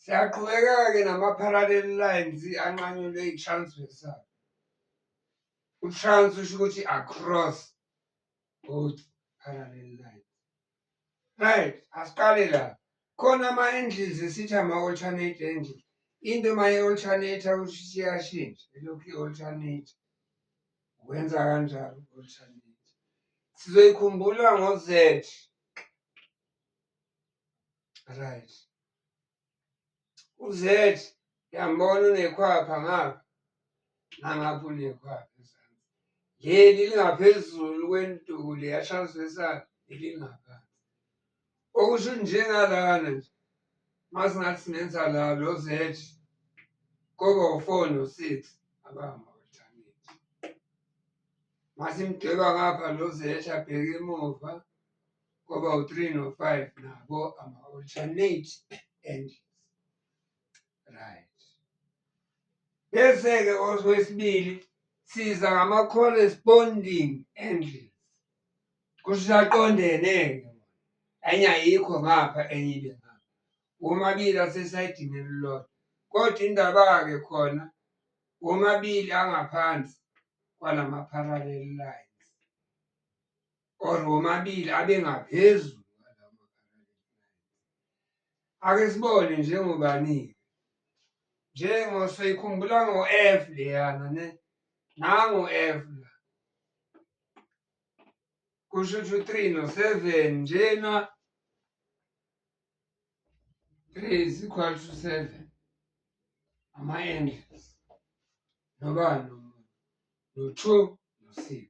Siyaqhubeka-ke nama-parallel lines anqanyulwe i-transversal. U-trans usho ukuthi across both parallel lines. Right, asiqale la. Khona ama-angles esithi ama-alternate angle. Into uma i-alternate usho ukuthi iyashintsha, elokhu i-alternate. Wenza kanjalo u-alternate. Sizoyikhumbula ngo-Z. Right. U-Z yambona unekhwapha ngapha nangapha unekhwapha ezansi. Leli lingaphezulu kwenduku leyashazwe esakhe elingaphansi. okusho ukuthi njengalana nje masingathi sinenza la lo z koba u-four no-six abahamba alternate masimdweba ngapha lo z abheke emuva koba u-three no-five nabo ama-alternate angles right bese-ke oswesibili siza ngama-corresponding angles kusisaqondene-ke enye ayikho ngapha enye ibe ngapha womabili asesayidini elilodwa kodwa indaba-ke khona womabili angaphansi kwalama-parallel lines or womabili abengaphezulu ake sibone njengobani-ke njengo soyikhumbula ngo-f leyana ne nango-f la kusho ukuthi u-three no-seven njena three is equal to seven ama-angles nobani no-two no-six